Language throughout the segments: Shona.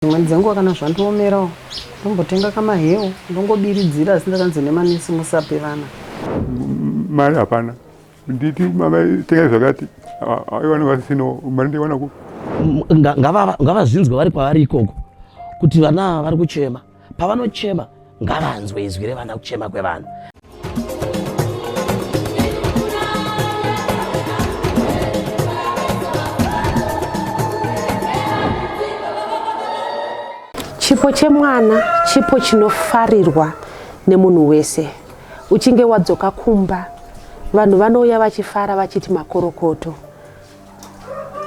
Dzimweni dzenguva kana zvandiomerawo ndombotenga kamahewu ndongobiridzira asi ndakanzi nemanesi musape vana mari hapana nditi mavatenga zvakati aiwana vasisino mari ndaiwana ku ngavazvinzwe vari kwavari ikoko kuti vana vari kuchema pavanochema ngavanzwe izwi revana kuchema kwevanhu chipo chemwana chipo chinofarirwa nemunhu wese uchinge wadzoka kumba vanhu vanouya vachifara vachiti makorokoto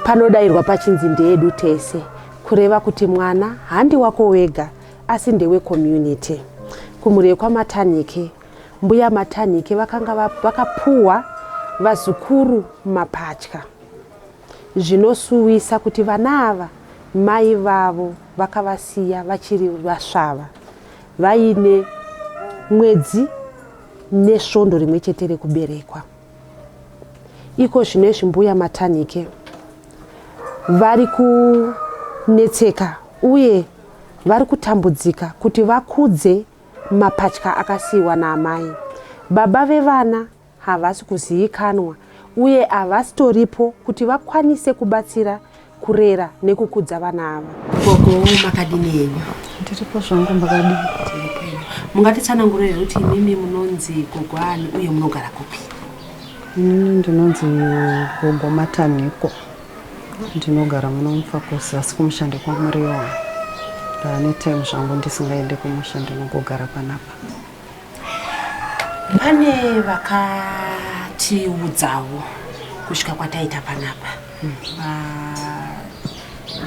panodairwa pachinzi ndeedu tese kureva kuti mwana handi wako wega asi ndewe community kumhuri kwamatanhike mbuya matanhike vakanga vakapuwa vazukuru mapatya zvinosuwisa kuti vana ava mai vavo vakavasiya vachiri vasvava vaine mwedzi nesvondo rimwe chete rekuberekwa Iko zvino izvi mbuya Matanhike vari kunetseka uye vari kutambudzika kuti vakudze mapatya akasiyiwa naamai. Baba vevana havasi kuzivikanwa uye havasitoripo kuti vakwanise kubatsira kurera nekukudza vana ava gogo makadini henyu ndiripo zvangu makadini mungatitsanangurire kuti imimi munonzi gogo ani uye munogara kupi inini ndinonzi gogo mataniko ndinogara muno mufakosi asi kumusha ndekwamuriwa ndaane time zvangu ndisingaende kumusha ndinongogara panapa pane vakatiudzawo kusvika kwataita panapa hmm.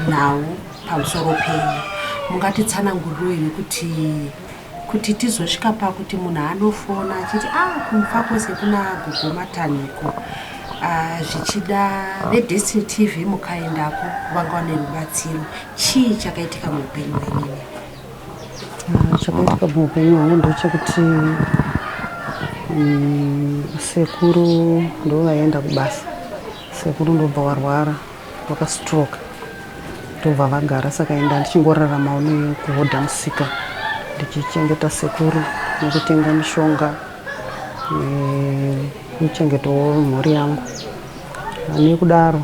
nhau pamusoro penyu mungatitsananguriroi nekuti kuti tizosvika pakuti munhu anofona achiti a ah, kumfa kwese kuna gogo matanhiko ah, zvichida vedestiny tv mukaendako vanga vane rubatsiro chii chakaitika muupenyu wenini Ah, chakaitika muupenyu hwangu ndechekuti mm, sekuru ndovaienda kubasa sekuru ndobva warwara vakastroke ndobva vagara saka enda ndichingoraramawo nekuhodha musika ndichichengeta sekuru nekutenga mishonga nekuchengetawo eh, mhuri yangu nekudaro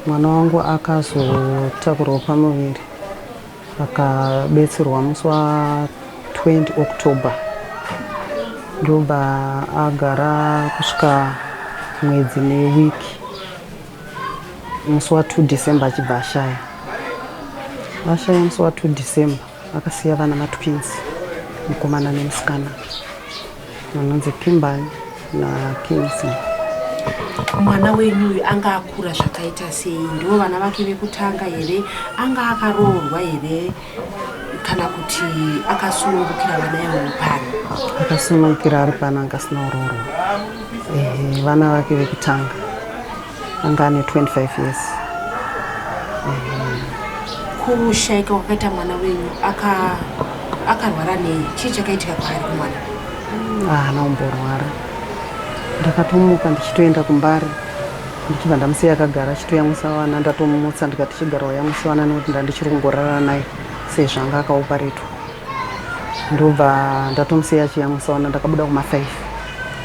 mwana wangu akazotakurwa pamuviri Akabetserwa musi wa 20 October ndobva agara kusvika mwedzi neweek musi wa 2 December achibva ashaya ashaya musi wa 2 December akasiya vana matwins mukomana nemusikana Vanonzi Kimberly na Kingsley. Mwana wenyu uyu anga akura zvakaita sei? Ndivo vana vake vekutanga here? Anga akaroorwa here? Kana kuti akasunungukira vana ivovo pano? Akasunungukira ari pano, anga asina kuroorwa. Ehe, vana vake vekutanga. anga ane 25 years kushaika kwakaita mwana wenyu akarwara nei chii chakaitika kwaari kumwana haana ah, kumborwara ndakatomuka ndichitoenda kumbari ndichibva ndamusiya akagara achitoyamwisa vana ndatomumutsa ndikati chigara wayamwisa vana nekuti ndandichiri kungorara naye sezvo anga akaupa retu ndobva ndatomusiya achiyamwisa vana ndakabuda kumafaifi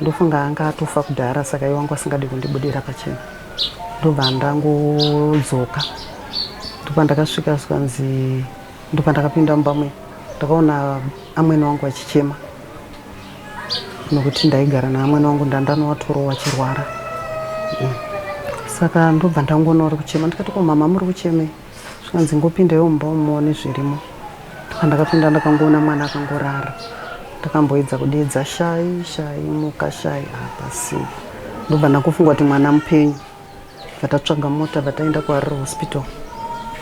Ndofunga anga atofa kudhara saka iye wangu asingadi kundibudira pachena ndobva ndangodzoka ndopandakasvika zvikanzi ndopandakapinda mumba muya ndakaona amwene wangu achichema nokuti ndaigara naamwene wangu ndandanowatoro wachirwara mm. saka ndobva ndangoona uri kuchema ndikati ko mama muri kuchemei zvikanzi ngopindaiwo mumba umu muone zvirimo ndakapinda ndakangoona mwana akangorara ndakamboedza kudeedza shai shai muka shai hapasi ndobva ndakufunga kuti mwana mupenyu vatatsvaga mota vataenda kuharare hospital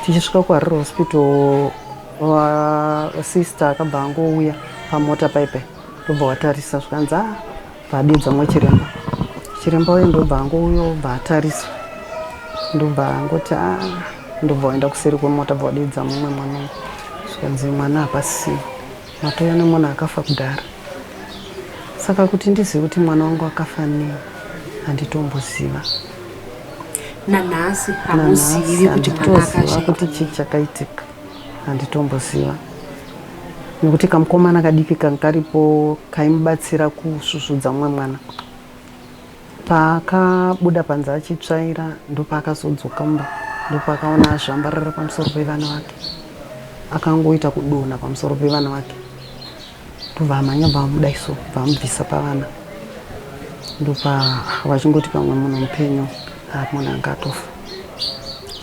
tichisvika kuharare hospital sister akabva angouya pamota paipai ndobva watarisa zvikanzi a ah, Padedza mwa chiremba chiremba uye ndobva angouyo obva atarisa ndobva angoti a ah, ndobva waenda kuseri kwemota bva wadedza mumwe mwana uyu zvikanzi mwana hapasi matouya nemwana akafa kudhara saka kuti ndizive kuti mwana wangu akafa nei handitomboziva nanhasi hamuzivi kuti mwana akafa kuti chii chakaitika handitomboziva nekuti kamukomana kadiki kanga karipo kaimubatsira kusvusvudza mumwe mwana paakabuda panze achitsvaira ndopaakazodzoka mumba ndopaakaona azvambarara pamusoro pevana vake akangoita kudonha pamusoro pevana vake ndovamhanya bva vamuda iso bva vamubvisa pavana ndopa vachingoti pamwe munhu mupenyu ari munhu anga atofa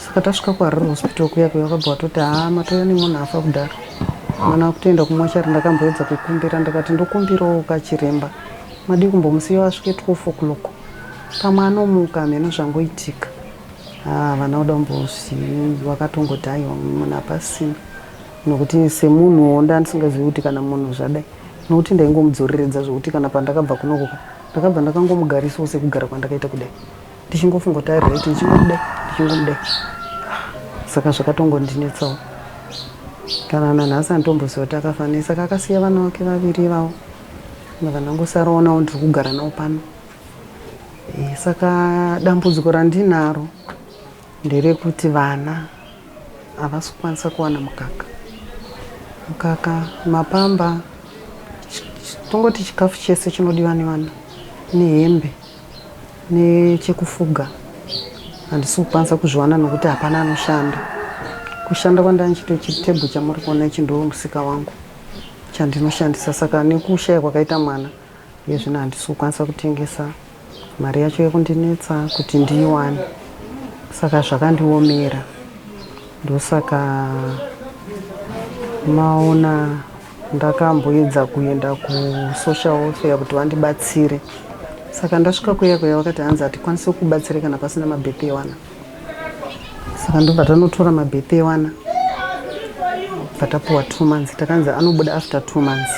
saka tasvika kuharare hospital kuya kuya vakabva vatoti haa matouya nemunhu afa kudaro mwana akutoenda kumochari ndakamboedza kukumbira ndakati ndokumbirawo kachiremba madii kumbomusiya vasvike 12 o'clock pamwe anomuka hameno zvangoitika haa vana uda kumbosi vakatongoti aiwa munhu apasina nokuti semunhuwo ndandisingazivi kuti kana munhu zvadai nokuti ndaingomudzoreredza zvokuti kana pandakabva kunokoka ndakabva ndakangomugarisawo sekugara kwandakaita kudai ndichingofunga kuti ari right ndichingomudai ndichingomudai saka zvakatongondinetsawo kana nanhasi anditomboziva kuti akafanei saka akasiya vana vake vaviri ivavo ndava ndangosarawo nawo ndiri kugara nawo pano eh, saka dambudziko randinaro Nderekuti vana havasi kukwanisa kuwana mukaka mukaka mapamba tongoti chikafu chese chinodiwa nevana nehembe nechekufuga handisi kukwanisa kuzviwana nokuti hapana anoshanda kushanda kwandanga ndichito chitebho chamuri kuona ichi ndoo musika wangu chandinoshandisa saka nekushaya kwakaita mwana iye zvino handisi kukwanisa kutengesa Mari yacho yekundinetsa kuti ndiiwane saka zvakandiomera ndosaka maona ndakamboedza kuenda kusocial welfare kuti vandibatsire saka ndasvika kuya kuya vakati hanzi hatikwanise kubatsire kana pasina mabirthday wana saka ndobva tanotora mabirthday wana bva tapuwa two months takanzi anobuda after two months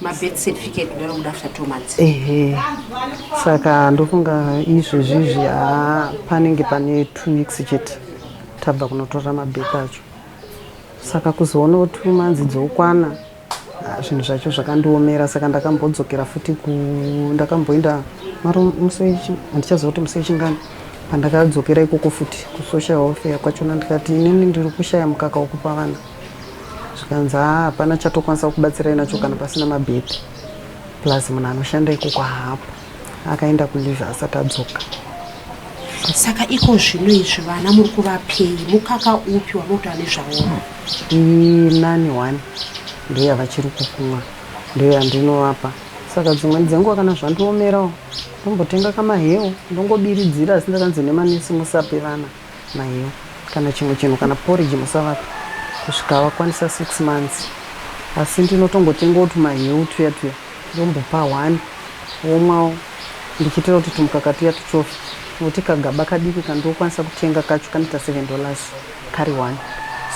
mabirth certificate kudaro kuda after two months ehe saka ndofunga izvezvizvi haa panenge pane two weeks chete tabva kunotora mabirth acho saka kuzoonawo two months dzokwana ah, zvinhu zvacho zvakandiomera saka ndakambodzokera futi ku ndakamboenda maro musi wechi- handichaziva kuti musi wechingani pandakadzokera ikoko futi kusocial welfare kwachona ndikati inini ndiri kushaya mukaka wekupa vana zvikanzi haa ah, hapana chatokwanisa kubatsirai nacho kana pasina mabhedhi plus munhu anoshanda ikoko haapo akaenda kulive asati adzoka saka iko zvino izvi vana muri kuvapei mukaka upi wanotoa nezvaona inani wani ndiyo yavachiri kukumwa ndiyo yandinovapa saka dzimweni dzenguva kana zvandiomerawo ndombotenga kamahewo ndongobiridzira asi ndakanzi nemanesi musape vana Maiyo kana chimwe chinhu kana porridge musavapa kusvika vakwanisa six months asi ndinotongotengawo tumaheu tuya tuya ndombopa one womwawo ndichiitira kuti tumukaka tuya tuchofe nokuti kagaba kadiki kandinokwanisa kutenga kacho kanoita seven dollars kari one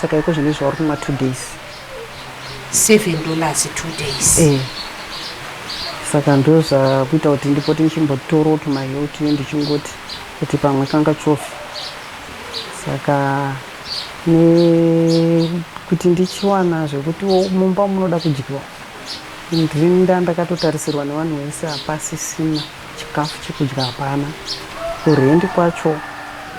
saka iko zvine zvauri kumwa two days seven dollars two days eh. saka ndozvakuita kuti ndipote ndichimbotorawo tumaheu tuya ndichingoti Kuti pamwe changa chofi saka nekuti ndichiwana zvekuti mumba munoda kudyiwa ndinda ndakatotarisirwa nevanhu vese hapasisina chikafu chekudya hapana kurendi kwacho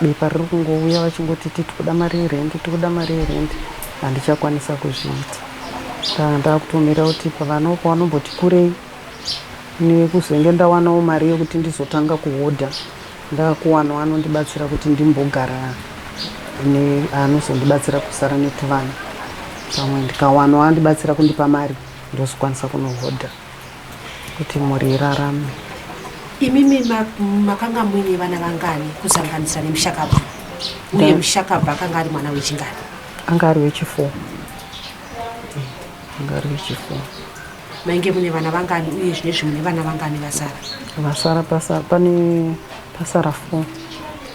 bepa riri kungouya vachingoti titoda mari yerendi tikuda mari yerendi handichakwanisa kuzviita saka ndakutomira kuti pavanopa vanomboti kurei Ini kuzenge ndawanawo mari yekuti ndizotanga kuhodha ndakuwanawo anondibatsira kuti ndimbogara anozondibatsira kusara netuvana pamwe ndikawanawo andibatsira kundipa mari ndozokwanisa kunohodha kuti mhuri irarame imimi makanga muine vana vangani kusanganisa nemushakabva uye mushakabva akanga ari mwana wechingani anga ari wechifour anga ari wechifour Mainge mune vana vangani uye zvine zvimwe nevana vangani vasara? Vasara pasara pane pasara four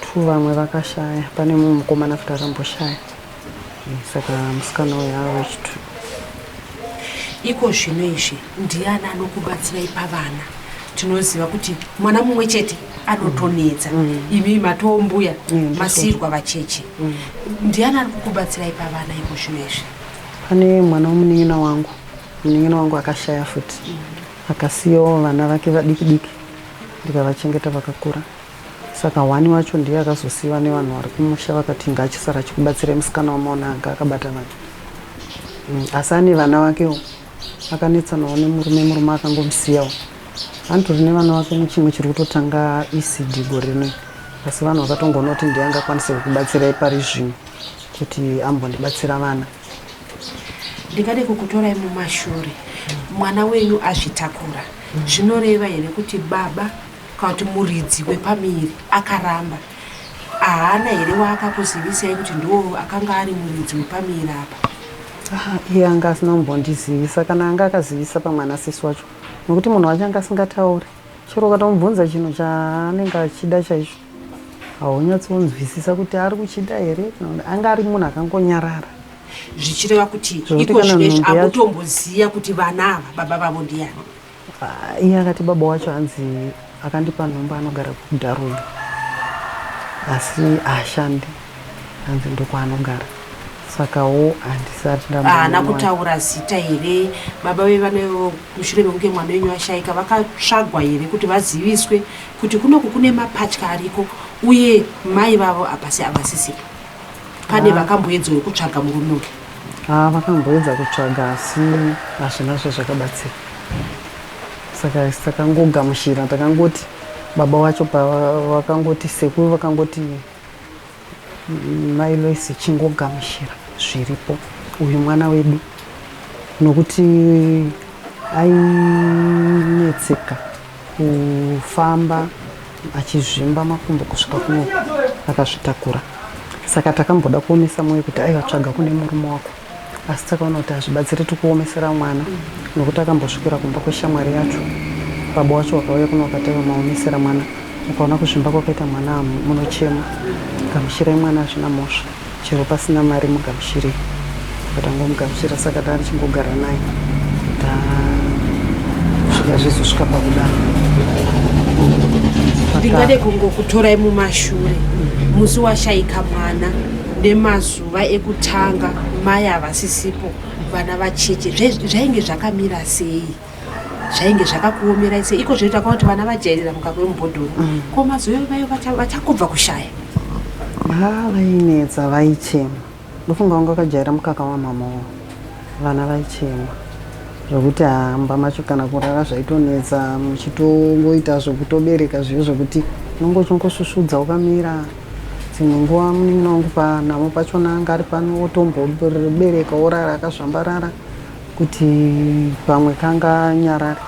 two vamwe vakashaya pane mumwe mukomana futi akamboshaya saka musikana uyo ava wechitu iko zvino izvi ndiani anokubatsirai pavana tinoziva kuti mwana mumwe chete anotonetsa mm. mm. imi matombuya mm, masirwa vacheche mm. ndiani ari kukubatsirai pavana iko zvino izvi pane mwana womunin'ina wangu Munin'ina wangu akashaya futi akasiyawo vana vake vadiki diki ndikavachengeta vakakura saka hwani wacho ndiye akazosiyiwa nevanhu vari kumusha vakati inga achisara achikubatsira musikana wamaona anga akabata vana mm, asi ane vana vakewo akanetsanawo nemurume murume akangomusiyawo anotori nevana vake muchimwe chiri kutotanga ecd gore rinoyi asi vanhu vakatongoona kuti ndiye angakwanise kukubatsirai pari zvino kuti ambondibatsira vana ndingade kukutorai mumashure mwana wenyu azvitakura zvinoreva here kuti baba kana kuti muridzi wepamiri akaramba haana here waakakuzivisai kuti ndoo akanga ari muridzi wepamiri apa ah, iye anga asina kumbondizivisa kana anga akazivisa pamwana sisi wacho nekuti munhu wacho anga asingatauri chero ukatomubvunza chinhu chaanenge achida chaicho haunyatsonzwisisa kuti ari kuchida here anga ari munhu akangonyarara zvichireva kuti iko zvinezvi akutomboziva kuti vana ava baba vavo ndiyani ah, iye akati baba wacho anzi akandipa nhomba anogara kudaruma asi haashandi anzi ndokwaanogara sakawo handisati ndaana kutaura zita here baba ve vana mushure mekunge mwana wenyu ashaika vakatsvagwa here kuti vaziviswe kuti kunoku kune mapatya ariko uye mai vavo hapasi avasisipo pane ah. vakamboedzawo kutsvaga murume uyu ah, vakamboedza kutsvaga asi hazvina zve zvakabatsira saka takangogamushira takangoti baba wacho pavakangoti sekuru vakangoti Mai Loice chingogamuchira zviripo uyu mwana wedu nokuti ainetseka kufamba achizvimba makumbo kusvika kuno akazvitakura saka takamboda kuomesa mwoyo kuti aivatsvaga kune murume wako asi takaona kuti hazvibatsiri tikuomesera mwana nokuti akambosvikira kumba kweshamwari yacho baba wacho wakauya kuno wakataiwa maomesera mwana ukaona kuzvimba kwakaita mwana munochema gamuchirai mwana hazvina mhosva chero pasina mari mugamuchirei vatangomugamuchira saka taa ndichingogara naye tasvika zvizosvika pakudaro ndingade kungokutorai mumashure musi washaika mwana nemazuva nguva ekutanga mai havasisipo vana vacheche zvainge zvakamira sei zvainge zvakakuomerai sei iko zvoita kwa kuti vana vajairira mukaka wemubhodhoro mm. ko mazuva vayo vachakubva kushaya ha vainetsa vaichema ndofunga vanga vakajaira mukaka wamamawo vana vaichema zvokuti hamba macho kana kurara zvaitonetsa muchitongoita zvokutobereka zviyo zvokuti unongochongosusudza ukamira dzimwe nguva munin'ina wangu panhamo pachona anga ari pano otombobereka orara akazvambarara kuti pamwe kanga nyarare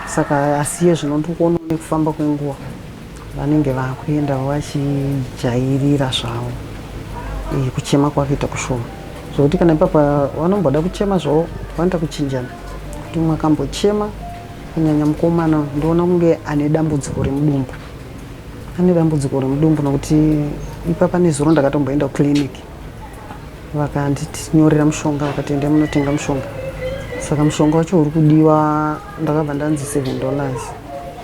saka asiye zvinondokuona nekufamba kwenguva vanenge vakuenda vachijairira zvavo eh, kuchema kwakaita kushoma zvokuti kana ipapa vanomboda kuchema zvavo vanoita kuchinjana kuti mwakambochema kunyanya mukomana ndoona kunge ane dambudziko remudumbu Ane dambudziko remudumbu nokuti ipapa nezuro ndakatomboenda kuclinic vakanditinyorera mushonga vakati endai munotenga mushonga saka mushonga wacho uri kudiwa ndakabva ndanzi seven dollars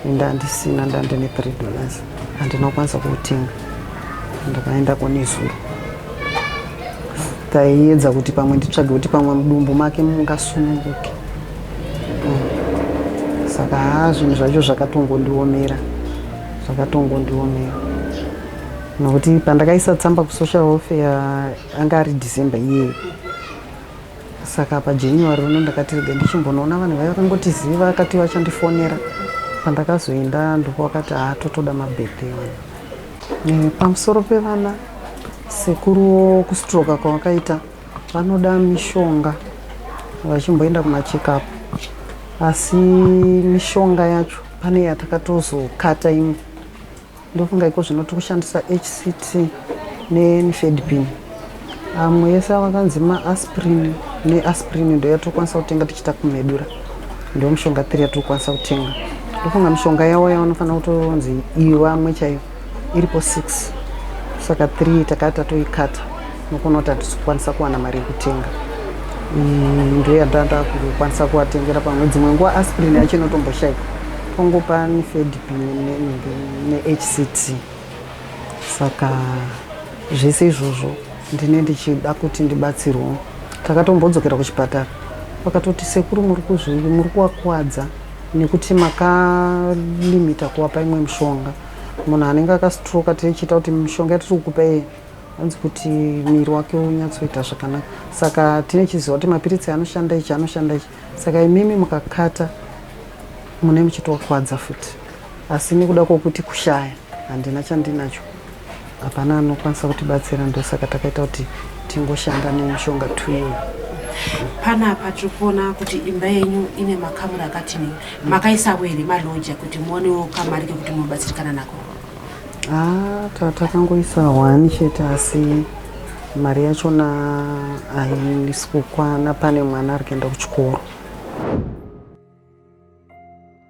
ende handisina ndandine three dollars handina kukwanisa kuutenga ndakaenda konezuro taiedza kuti pamwe nditsvage kuti pamwe mudumbu make mungasununguke saka haa zvinhu zvacho zvakatongondiomera zvakatongondiomera nokuti pandakaisa tsamba kusocial welfare anga ari december iyeyo saka pajanuary uno ndakati rega ndichimbonoona vanhu vaiva kangotiziva akati vachandifonera pandakazoenda ndoko vakati haa totoda mabirthday wani eh, pamusoro pevana sekuruwo kustroka kwavakaita Vanoda mishonga vachimboenda kumacheckup asi mishonga yacho pane yatakatozokata imwe ndofunga iko zvino tiri kushandisa hct nenifedpin amwe yese avakanzi maaspirin neaspirin ndo yatokwanisa kutenga tichiita kumedura ndo mushonga tiri yatokwanisa kutenga ndofunga mishonga yavo yavanofanira kutonzi iyo vamwe chaivo iripo 6 saka 3 takati tatoikata nokuona kuti hatisi kukwanisa kuwana mari yekutenga mm, ndo yandanda kukwanisa kuvatengera pamwe dzimwe nguva aspirin yacho inotomboshaika tongopa nefedp nehct saka zvese izvozvo ndine ndichida kuti ndibatsirwo takatombodzokera kuchipatara vakatoti sekuru muri kuzvii muri kuwakwadza nekuti makalimita kuvapa imwe mishonga munhu anenge akastroka tichiita kuti mishonga yatiri kukupa iye hanzi kuti miri wake unyatsoita zvakanaka saka tine chiziva kuti mapiritsi anoshanda ichi anoshanda ichi saka imimi mukakata mune muchitokwadza futi asi nekuda kwokuti kushaya handina chandinacho hapana anokwanisa kutibatsira ndosaka takaita kuti tingoshanda nemushonga tuyo panapa tiri kuona kuti imba yenyu ine makamuri akati nei makaisavo here maloja kuti muonewo kamari kekuti munobatsirikana nako ah, tatangoisa one chete asi mari yachona haisi kukwana pane mwana ari kuenda kuchikoro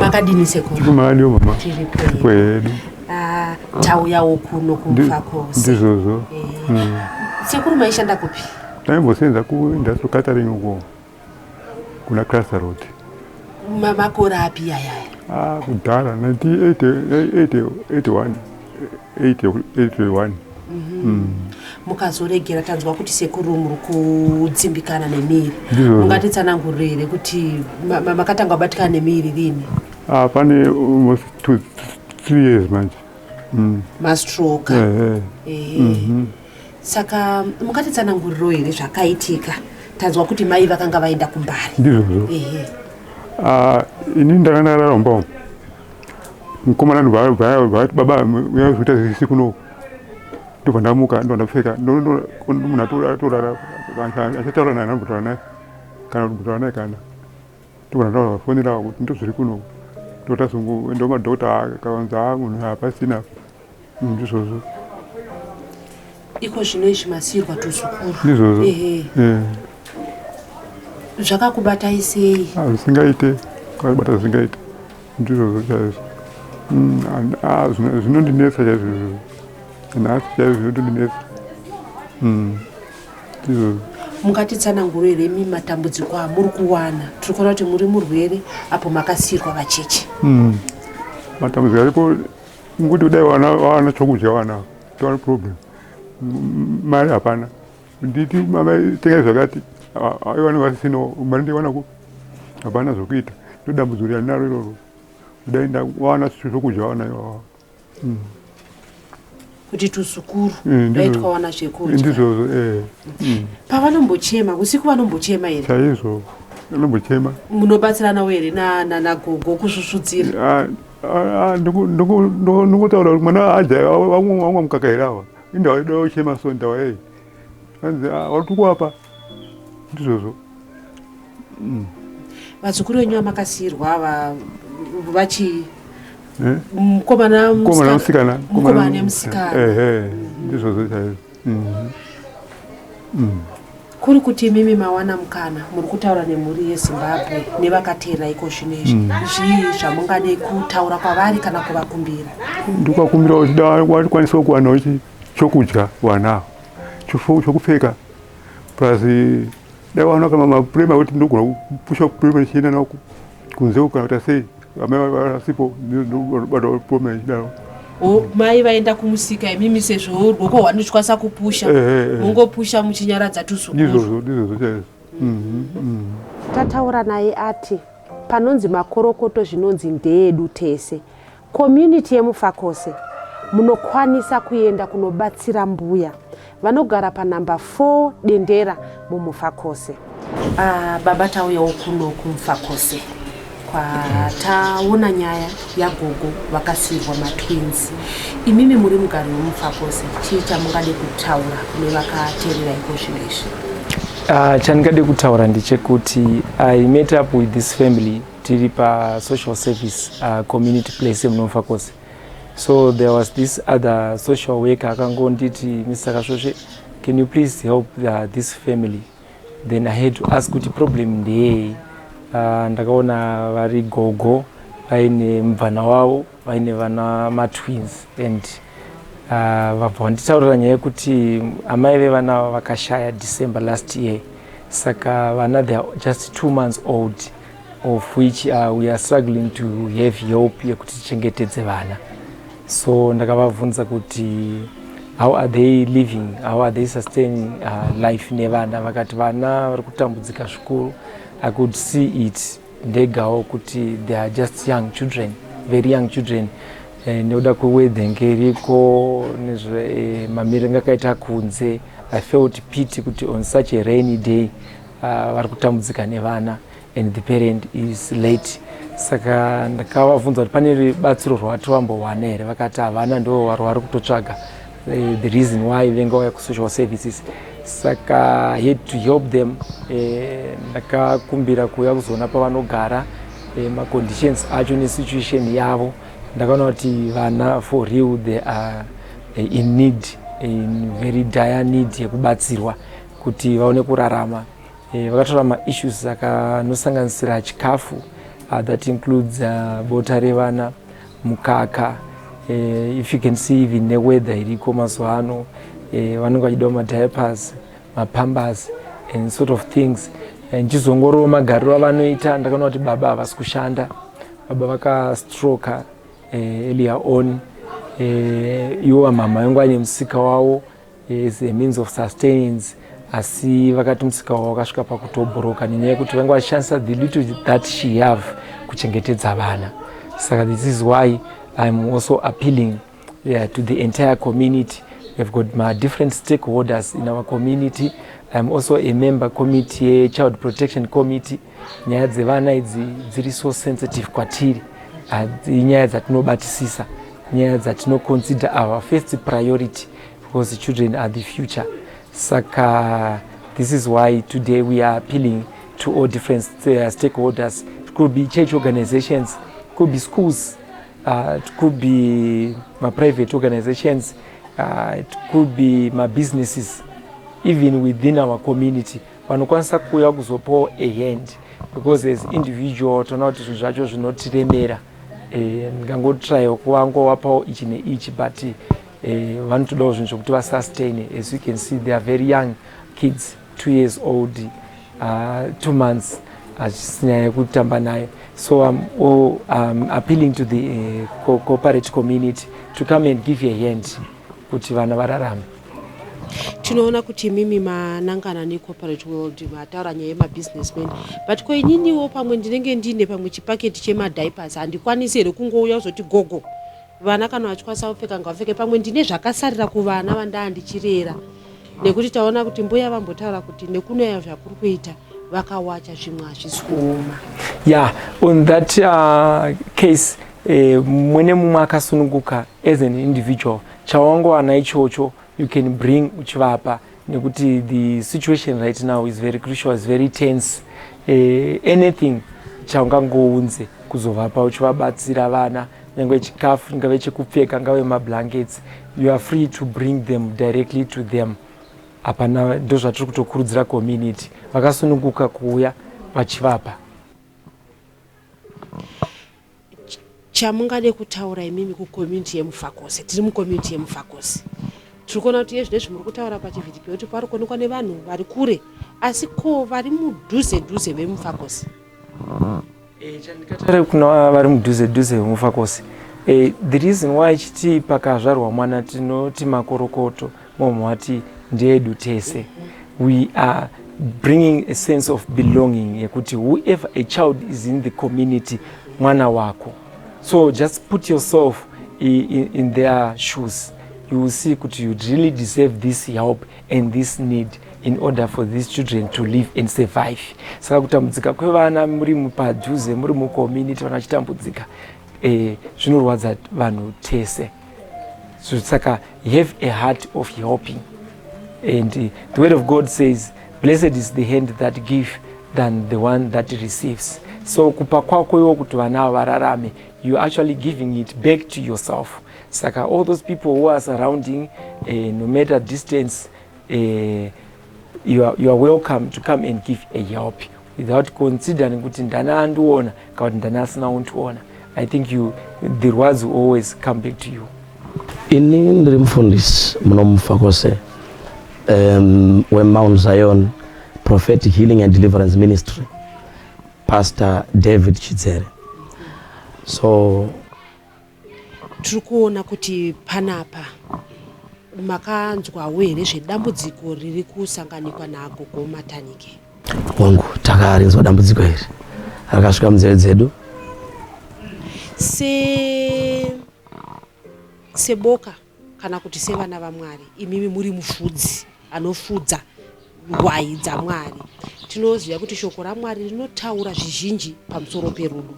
makadini sekuru tiri madio mama tiri kwedu ah, tauyawo kuno kumva kose ndizvozvo eh. mm. sekuru maishanda kupi taimbosenza kuindustrial catering uko kuna cluster road makore api yayaya ah, kudhara 1981 81 mhm. mm. mukazoregera tanzwa kuti sekuru muri kudzimbikana nemiri ungatitsanangurire here kuti makatanga kubatikana nemiri rini ah, pane almost two, three years manje mm. mastroke yeah, yeah. Eh. Mm -hmm. saka mukatitsananguriro here zvakaitika tanzwa kuti mai vakanga vaenda kumbari ndizvozvo ah, ini ndakanga ndararomba mukomana vati baba uyazoita zvese kuno ndobva ndamuka ndobva ndapfeka munhu atorara achataura naye anambotaura naye kana kutaura naye kana ndobva ndavafonera kuti ndozviri kuno ndotazongoenda kumadokota akavanza munhu apasina ndizvozvo iko zvino izvi masiirwa tuzukuru ndizvozvo zvakakubatai sei ah, zvisingaite kwakubata zvisingaite ndizvozvo chaizvo mm, ah, zvinondinetsa chaizvo izvozvo nhasi chaizvo zvinotondinetsa mm, ndizvozvo mungatitsananguro here mi matambudziko amuri kuwana tiri kuona kuti muri murwere apo makasiirwa vacheche mm, matambudziko aripo Ngokuti kudai vana vana chokudya vana tone problem mari hapana nditi mamai tengai zvakati vana vasisina mari ndiwana ku hapana zvokuita ndodambudziko randinaro iroro kudai ndawana zvokudya vana ivava mm. kuti tuzukuru eh, daitwawana zvekudya ndizvozvo eh. mm. pavanombochema usiku vanombochema here chaizvo anombochema munobatsiranawo here nanagogo kusvusvudzira ah, ndingotaura kuti mwana aja vamwa mukaka here ava indaida uchema so ndawa yei anzi watukuapa ndizvozvo mm. vazukuru venyu vamakasiirwa ava vachi eh? mukomana musikana mukomana nemusikana ndizvozvo chaizvo mm. Mm. kuri kuti imimi mawana mukana muri kutaura nemhuri yezimbabwe nevakateera iko zvino izvi mm. zvii zvamungade kutaura kwavari kana kuvakumbira ndikuvakumbira kuti dawakwanisawo kuwanawo chokudya wanawo chokupfeka plus dai waona kama mapurema kuti ndogona kupusha purema chienda nawo kunze ukaita sei Amai vasipo ndinobatwa pome ichidaro. O mai vaenda kumusika imimi sezvo rwoko hwanochwasa kupusha. Eh, eh, eh. Mungopusha muchinyaradza tuzukuru. Ndizvozvo ndizvozvo chaizvo. Mhm, mhm. tataura naye ati panonzi makorokoto zvinonzi ndeedu tese community yemufakose munokwanisa kuenda kunobatsira mbuya Vanogara panhamba 4 Dendera muMufakose. Ah, baba tauyawo kuno kuMufakose kwataona nyaya yagogo vakasiirwa matwins. Imimi muri mugari weMufakose, chii chamungade kutaura kune vakateerera iko zvino izvi? Uh, chandingade kutaura ndechekuti i met up with this family tiri pasocial service uh, community place yemunomufakose so there was this other social worker akangonditi mr kasvosve can you please help the, this family then i had to ask kuti problem ndeyei uh, ndakaona vari gogo vaine mubvana wavo vaine vana matwins and uh, vabva vanditaurira nyaya yekuti amai vevana ava vakashaya december last year saka vana theyare just two months old of which uh, we are struggling to have help yekuti tichengetedze vana so ndakavabvunza kuti how are they living how are they sustaining uh, life nevana vakati vana vari kutambudzika zvikuru i could see it ndegawo kuti they are just young children very young children eh, nekuda kwewedhenge iriko nezvemamiriro eh, anga akaita kunze i felt pity kuti on such a rainy day uh, vari kutambudzika nevana and the parent is late saka ndakavabvunza kuti pane batsiro rwati vambowana here vakati havana ndo vari kutotsvaga eh, the reason why venga waya kusocial services saka had to help them eh, ndakakumbira kuuya kuzoona pavanogara eh, maconditions acho nesituation yavo ndakaona kuti vana for real they are in need in very dire need yekubatsirwa kuti vaone kurarama Eh, vakatora maissues akanosanganisira chikafu uh, that includes uh, bota revana mukaka uh, if you can see even neweather iriko mazuva ano uh, vanenge vachidawo madiapers mapambers and sort of things ndichizongorowo magariro avanoita ndakaona kuti baba havasi kushanda baba vakastroka uh, earlier on uh, iwo amhamha yangu ane musika wavo as a means of sustenance asi vakati musika wavo wakasvika pakutobhuroka nenyaya yekuti vanga vachishandisa the little that she have kuchengetedza vana saka this is why iam also appealing yeah, to the entire community we've got my different stakeholders in our community iam also a member committee yechild protection committee Nyaya dzevana idzi dziri so sensitive kwatiri, inyaya dzatinobatisisa, nyaya dzatino consider our first priority because children are the future. Saka this is why today we are appealing to all different uh, stakeholders. It could be church organizations, it could be schools, uh, it could be my private organizations, uh, it could be my businesses, even within our community. vanokwanisa kuuya kuzopawo a hand because as individual toona kuti zvinhu zvacho zvinotiremera eh, ndingangotraya kuvangovapawo ichi neichi but eh, vanotodawo zvinhu zvekuti vasustaine as you can see they are very young kids two years old uh, two months hachisi nyaya yekutamba nayo so im um, appealing to the uh, corporate community to come and give a hand kuti vana vararame tinoona kuti imimi manangana necorporate world mataura nyaya yemabusinessman but ko ininiwo pamwe ndinenge ndiine pamwe chipaketi chemadipas handikwanisi here kungouya uzoti gogo vana kana vachikwanisa kupfeka ngavapfeke pamwe ndine zvakasarira kuvana vandaa ndichirera nekuti taona kuti mbuya vambotaura kuti nekunaya zvakuri kuita vakawacha zvimwe hazvisi kuoma ya on that uh, case eh, mwene mumwe akasununguka as an individual chawangowana ichocho you can bring uchivapa nekuti the situation right now is very crucial is very tense eh, anything chaungangounze kuzovapa uchivabatsira vana nyange chikafu ngave chekupfeka ngave mablankets you are free to bring them directly to them Hapana ndozvatiri kutokurudzira community vakasununguka kuuya vachivapa. Chamungade kutaura imimi kucommunity yemufakose tiri mucommunity yemufakose tiri kuona kuti iye zvinezvi muri kutaura pachivhidhipio kuti pari kuonekwa nevanhu vari kure asi ko vari mudhuze dhuze vemufakose Eh, chandikataura kuna vari mudhuze dhuze vemufakosi eh, the reason why chiti pakazvarwa mwana tinoti makorokoto momwe wati ndeedu tese we are bringing a sense of belonging yekuti whoever a child is in the community mwana wako so just put yourself in, in their shoes you will see kuti you really deserve this help and this need in order for these children to live and survive saka kutambudzika kwevana muri padhuze muri mucommunity vana vachitambudzika eh, zvinorwadza vanhu tese so saka have a heart of helping and uh, the word of god says blessed is the hand that give than the one that receives so kupa kwako iwo kuti vana ava vararame you actually giving it back to yourself saka all those people who are surrounding uh, no matter distance uh, you are, you are welcome to come and give a help without considering kuti ndani andiona kana kuti ndani asina undiona i think you, the rwadzo always come back to you ini ndiri mufundisi munomufa kwose um, wemount zion prophetic healing and deliverance ministry pastor david chidzere so Tiri kuona kuti panapa makanzwawo here zvedambudziko riri kusanganikwa naagogo Matanike? Hongu, takarinzwa dambudziko iri rakasvika munzeve dzedu. Se seboka Kana kuti sevana vaMwari, imimi muri mufudzi anofudza rwayi dzaMwari. Tinoziva kuti Shoko raMwari rinotaura zvizhinji pamusoro perudo.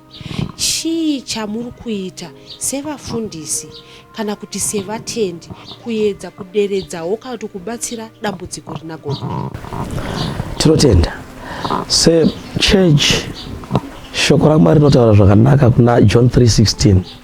Chii chamuri kuita sevafundisi kana kuti sevatendi kuedza kuderedzawo kana kuti kubatsira dambudziko rina gogo? Tinotenda sechechi Shoko raMwari rinotaura zvakanaka kuna John 3:16.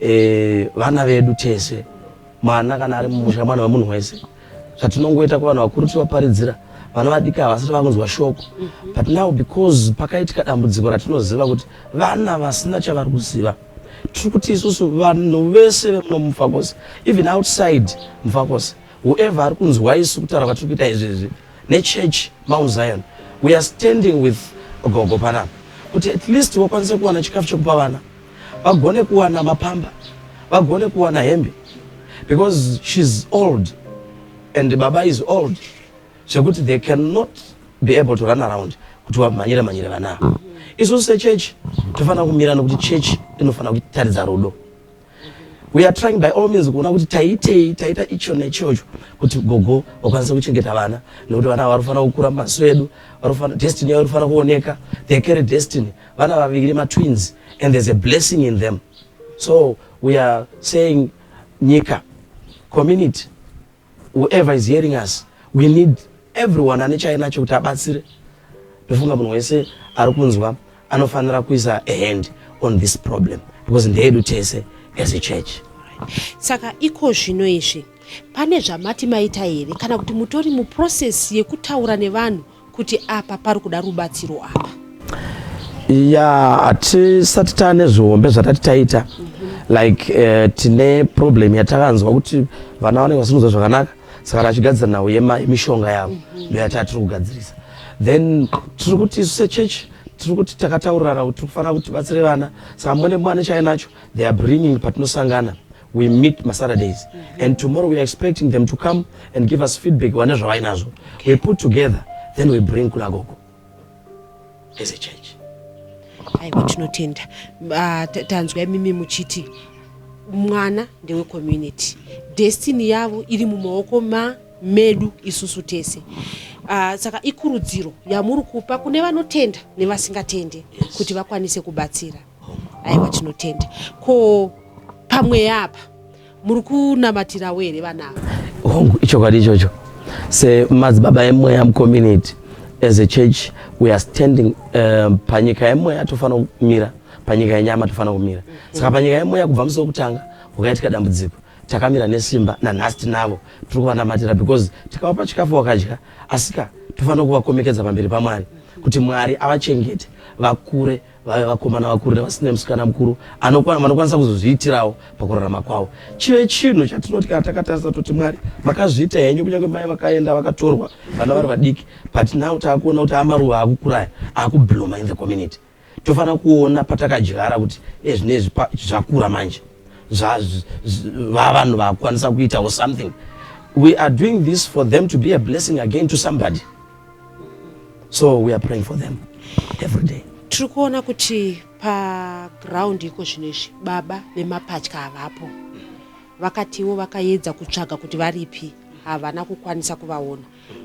eh, vana vedu tese mwana kana ari mumusha mwana wemunhu wese zvatinongoita kuvanhu vakuru tivaparidzira vana vadiki havasati vakunzwa shoko mhm. but now because pakaitika dambudziko ratinoziva kuti vana vasina chavari kuziva tiri kuti isusu vanhu vese vemuno mumfakosi even outside mfakosi whoever ari kunzwa isu kutaura kwatiri kuita izvezvi nechurch mount zion we are standing with gogo panapa kuti at least wakwanise kuwana chikafu chekupa vana vagone kuwana mapamba vagone kuwana hembe because she's old and baba is old zvekuti they cannot be able to run around kuti vamhanyire mhanyire vana ava isusu sechechi tofanira kumirana kuti chechi inofanira kutaridza rudo we are trying by all means kuona kuti taitei taita icho nechocho kuti gogo vakwanise kuchengeta vana nekuti vana vari kufanira kukura maso edu destiny yavo iri kufanira kuoneka they carry destiny vana vaviri matwins and there's a blessing in them so we are saying nyika community whoever is hearing us we need everyone ane chainacho kuti abatsire ndofunga munhu wese ari kunzwa anofanira kuisa a hand on this problem because ndeedu tese as a church saka iko zvino izvi pane zvamati maita here kana kuti mutori muprocess yekutaura nevanhu kuti apa pari kuda rubatsiro apa ya hatisati taa nezvihombe zvatati taita like uh, tine problem yatakanzwa kuti vana vanenge vasinguza zvakanaka saka tachigadzira nhau yemishonga yavo ndo yataa tiri kugadzirisa then tiri kuti isu sechurch tiri kuti takataurirana kuti tiri kufanira kuti tibatsire vana saka mune mwana chainacho they are bringing patinosangana we meet masaturdays mm -hmm. and tomorrow we are expecting them to come and give us feedback vane zvavainazvo okay. we put together then we bring kula gogo as a church aiwa tinotenda ah, tanzwa imimi muchiti mwana ndewecommunity destiny yavo iri mumaoko ma medu isusu tese uh, saka ikurudziro yamuri kupa kune vanotenda nevasingatende yes. kuti vakwanise kubatsira Aiwa tinotenda. Ko pamweya apa muri kunamatirawo here vana ava? Hongu, ichokwadi ichocho. Semadzibaba emweya mucommunity as a church we are standing um, panyika yemweya tofanira kumira panyika yenyama tofanira kumira saka panyika yemweya kubva musi wekutanga wakaitika dambudziko takamira nesimba nanhasi tinavo tiri kuvanamatira because tikavapa chikafu wakadya asika tofanira kuvakomekedza pamberi pamwari kuti mwari avachengete vakure vave vakomana vakuru nevasina musikana mukuru vanokwanisa kuzozviitirawo pakurarama kwavo chive chinhu chatinoti kana takatarisa toti mwari makazviita henyu kunyange mai vakaenda vakatorwa vana vari vadiki but now taakuona kuti amaruva akukuraya akubloma in the community tofanira kuona patakadyara kuti ezvinezvi zvakura manje vavanhu vakwanisa kuitawo something we are doing this for them to be a blessing again to somebody so we are praying for them every day tiri kuona kuti paground iko zvino izvi baba vemapatya havapo vakatiwo vakaedza kutsvaga kuti varipi havana kukwanisa kuvaona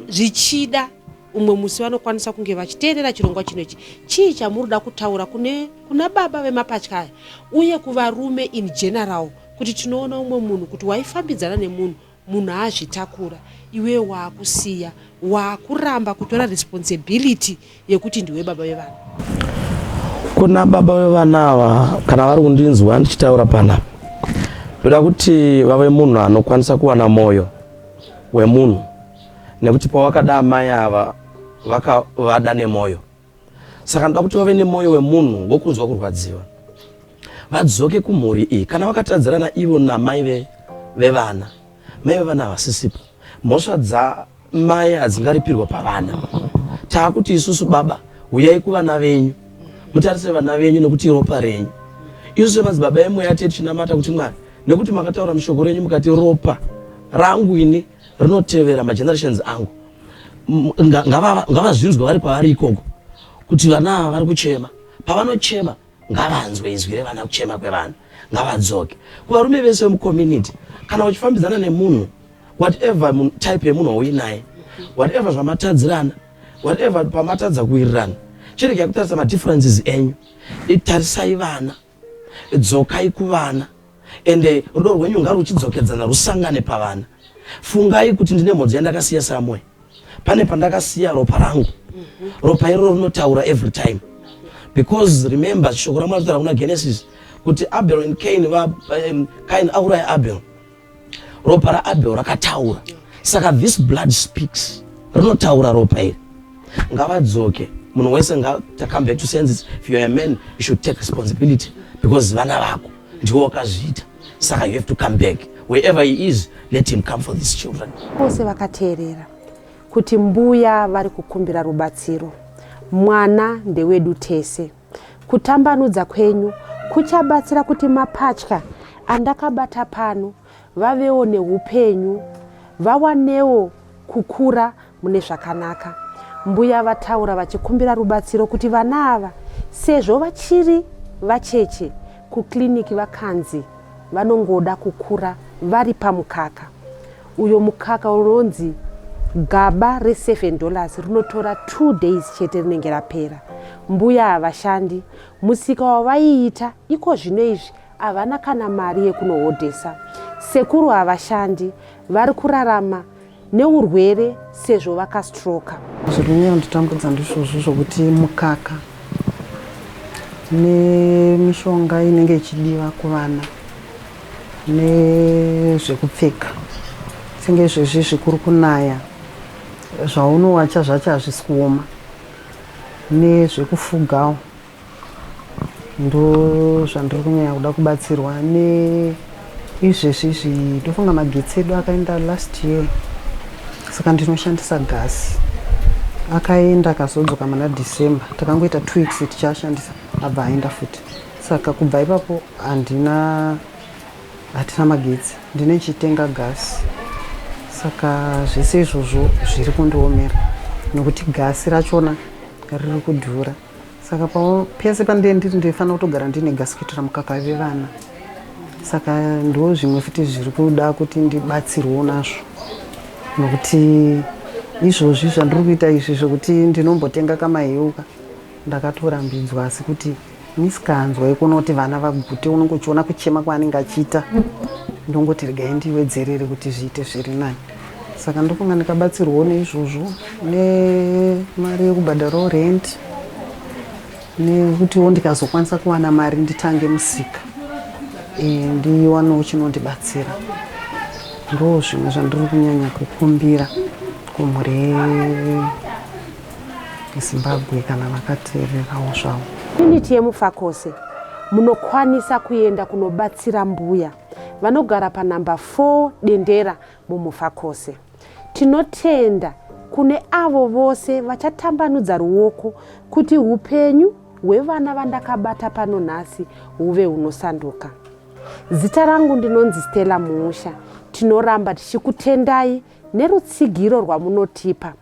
zvichida umwe musi vanokwanisa kunge vachiteerera chirongwa chino ichi chii chamuri da kutaura kune kuna baba vemapatya aya uye kuvarume in general kuti tinoona umwe munhu kuti waifambidzana nemunhu Munhu azvitakura iwewe waakusiya waakuramba kutora responsibility yekuti ndiwe baba vevana. Kuna baba vevana ava kana vari kundinzwa ndichitaura pana ndoda kuti vave munhu anokwanisa kuwana moyo wemunhu nekuti pawakada amai ava vakavada nemoyo saka ndoda kuti vave nemwoyo wemunhu wokunzwa kurwadziwa vadzoke kumhuri iyi kana vakatadzirana ivo namai vevana mai vevana havasisipo mhosva dzamai hadzingaripirwa pavana taakuti isusu baba huyai kuvana venyu mutarise vana venyu nekuti ropa renyu isu semadzibaba emweya tiye tichinamata kuti mwari nekuti makataura mushoko renyu mukati ropa rangu ini rinotevera magenerations angu ngavazvinzwe vari pavari ikoko kuti vana ava vari kuchema pavanochema ngavanzwe izwi revana kuchema kwevanhu ngavadzoke kuvarume vese vemucommunity kana uchifambidzana nemunhu whatever type yemunhu wauinaye whatever zvamatadzirana whatever pamatadza kuwirirana chirega kutarisa madifferences enyu itarisai vana Dzokai kuvana ende rudo rwenyu ngaruchidzokedzana rusangane pavana. Fungai kuti ndine mhodzi yandakasiya somewhere. Pane pandakasiya ropa rangu. Ropa iroro rinotaura every time. Because remember shoko raMwari rinotaura kuna Genesis kuti Abel and Cain va um, Cain auraya Abel. ropa raabel rakataura saka this blood speaks rinotaura ropa iri ngavadzoke munhu wese come back to senses if youare a man you should take responsibility because vana vako ndiwo wakazviita saka you have to come back wherever he is let him come for these children vose vakateerera kuti mbuya vari kukumbira rubatsiro mwana ndewedu tese Kutambanudza kwenyu kuchabatsira kuti mapatya andakabata pano vavewo neupenyu, vawanewo kukura mune zvakanaka. Mbuya vataura vachikumbira rubatsiro kuti vana ava sezvo vachiri vacheche kukiriniki vakanzi vanongoda kukura vari pamukaka. Uyo mukaka unonzi gaba re 7 dollars rinotora 2 days chete rinenge rapera. Mbuya havashandi, musika wavaiita iko zvino izvi havana kana mari yekunohodhesa. Sekuru havashandi, vari kurarama neurwere sezvo vakastroka. Zviri kunyanya kutitambudza ndizvozvo zvokuti mukaka nemishonga inenge ichidiwa kuvana nezvekupfeka senge izvezvi zvikuru kunaya zvaunowacha zvacho hazvisi kuoma nezvekufugawo ndo zvandiri kunyanya kuda kubatsirwa neizvezvi izvi ndofunga magetsi edu akaenda last year saka ndinoshandisa gasi akaenda akazodzoka mana december takangoita two weeks tichashandisa abva aenda futi Saka kubva ipapo handina hatina magetsi ndine chitenga gasi saka zvese izvozvo zviri kundiomera nokuti gasi rachona riri kudhura saka pese pandee ndiri ndinofanira kutogara ndine gasi kuitira mukaka vevana saka ndo zvimwe futi zviri kuda kuti ndibatsirwewo nazvo nokuti izvozvi zvandiri kuita izvi zvekuti ndinombotenga kamahiuka ndakatorambidzwa asi kuti Misikanzwa yekunoti vana vagute unenge uchiona kuchema kwaanenge achiita ndongoti regai ndiwedzerere kuti zviite zviri nani saka ndofunga ndikabatsirwawo neizvozvo nemari yekubhadharawo rent nekutiwo ndikazokwanisa kuwana mari nditange musika e, ndiwanewo chinondibatsira ndo zvimwe zvandiri kunyanya kukumbira kumhuri zimbabwe kana vakateererawo zvavo unity yemufakose munokwanisa kuenda kunobatsira mbuya vanogara panhamba 4 dendera mumufakose tinotenda kune avo vose vachatambanudza ruoko kuti upenyu hwevana vandakabata pano nhasi huve hunosanduka zita rangu ndinonzi stella muusha tinoramba tichikutendai nerutsigiro rwamunotipa